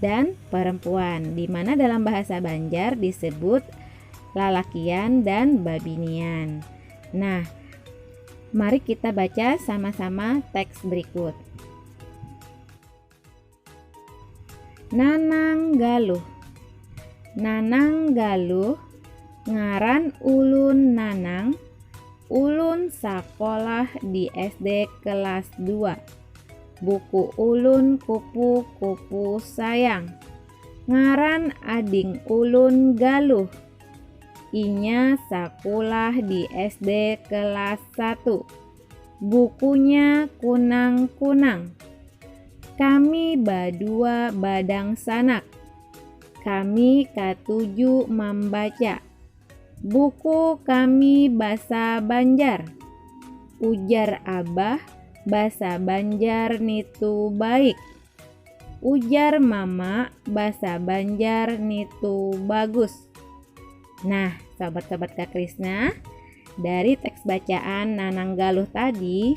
dan perempuan di mana dalam bahasa Banjar disebut lalakian dan babinian. Nah, mari kita baca sama-sama teks berikut. Nanang Galuh Nanang Galuh ngaran ulun Nanang ulun sekolah di SD kelas 2 Buku ulun kupu-kupu sayang Ngaran ading ulun Galuh Inya sakulah di SD kelas 1 Bukunya kunang-kunang Kami badua badangsanak Kami katuju mambaca Buku kami basa Banjar. Ujar abah basa Banjar nitu baik. Ujar mama basa Banjar nitu bagus. Nah, sobat-sobat Kak Krisna, dari teks bacaan Nanang Galuh tadi,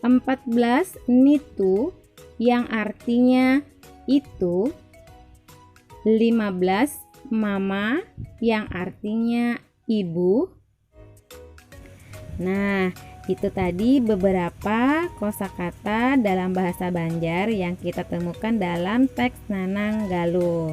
14 nitu yang artinya itu 15 mama yang artinya ibu Nah itu tadi beberapa kosakata dalam bahasa Banjar yang kita temukan dalam teks Nanang Galuh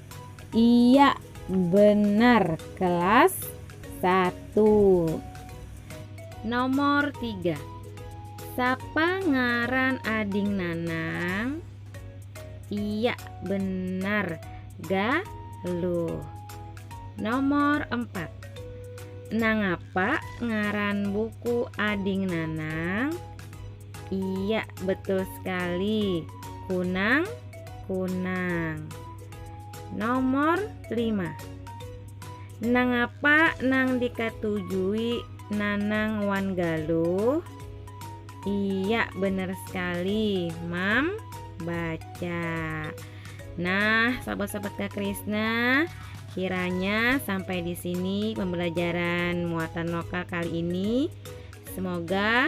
Iya, benar kelas satu. Nomor tiga. Sapa ngaran ading Nanang? Iya, benar. Galuh. Nomor empat. Nangapa ngaran buku ading Nanang? Iya, betul sekali. Kunang, kunang. Nomor 5. Nang apa nang dikatujui Nanang wan Galuh? Iya, benar sekali. Mam baca. Nah, sahabat-sahabat Kak Krisna, kiranya sampai di sini pembelajaran muatan lokal kali ini. Semoga